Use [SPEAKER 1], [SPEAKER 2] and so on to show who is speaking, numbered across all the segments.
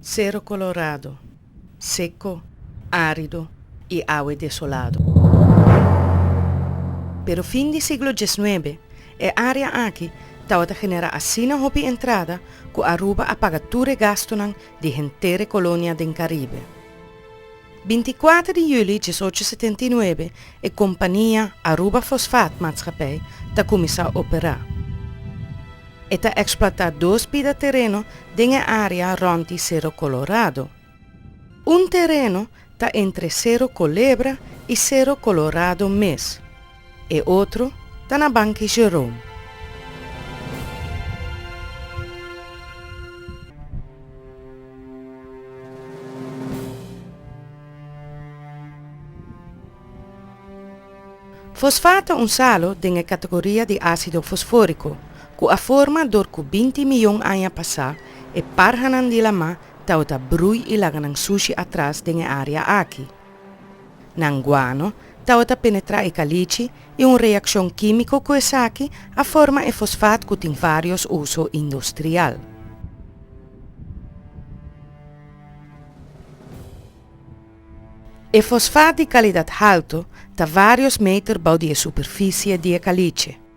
[SPEAKER 1] Cerro Colorado, seco, arido y awe desolado. Pero fin di siglo dieznuebe e area aki tabata genera asina hopi entrada cu Aruba a paga tur e gastonan di henter e colonia den Caribe. Binti kuater di yuli dies ocho setenta i nuebe e kompania Aruba Fosfaat Matschapij ta kuminsá operá. E ta eksplotá dos pida tereno den e área rònt di Sero Kolorado. Un tereno ta entre Sero Kolebra i Sero Kolorado mes. E otro ta na banki Jerome. Fosfat ta un salo den e kategoria di asido fosforiko ku a forma dor ku binti miyon aña pasá e parhanan di lamá taota brui i laga nan sushi atras den e área aki. Nan guano tabata penetrá e kalichi i un reakshon kímiko ku esaki a forma e fosfat ku tin vários uso industrial. E fosfat di kalidat haltu ta vários meter bou di e superfisie di e kalichi.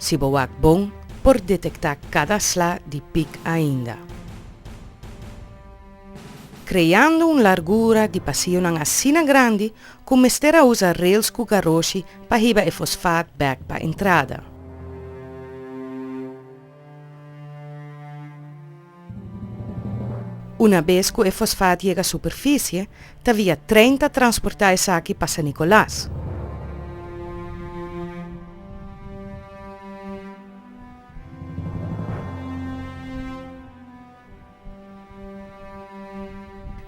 [SPEAKER 1] Si bo wak bon, por detektá kada sla di pik ainda. Kreando un largura di pasionan asina grandi ku mester a usa rels ku garoshi pa hiba e fosfaat bèk pa entrada. Una bes ku e fosfat yega superfisie, ta via tren ta transportá esaki pa San Nicolas.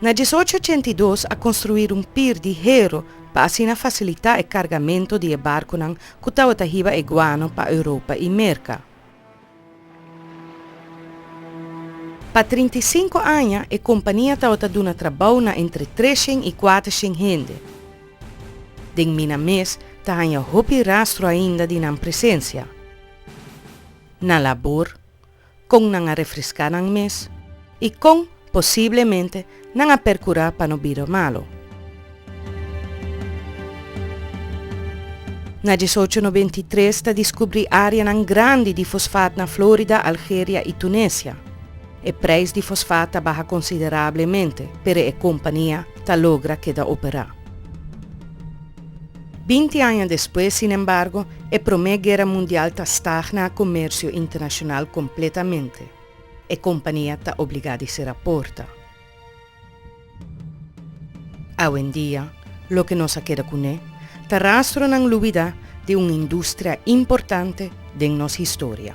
[SPEAKER 1] Na dies ocho ochenta i dos a konstruí un pir di hero pa asina fasilitá e kargamento di e barkonan ku tabata hiba e guano pa Europa i Merka. Pa trinta i sinku aña e kompania tabata duna trabou na entre treshen i kuatershen hende. Den mina mes ta haña hopi rastro ainda di nan presensia na labor kon nan a refreská nan mes. I kon posiblemente nan a perkurá pa no bira malu? Na dies ocho noventa i tres ta diskubrí áreanan grandi di fosfat na Florida, Algeria i Tunesia. E preis di fosfat ta baha konsiderablemente, pero e kompania ta logra keda operá. Binti aña despues, sinembargo, e Promé Guera Mundial ta stagna komersio internashonal kompletamente. E kompania ta obligá di sera porta. Awendia, loke nos a keda kuné ta rastronan lubidá di un industria importante den nos historia.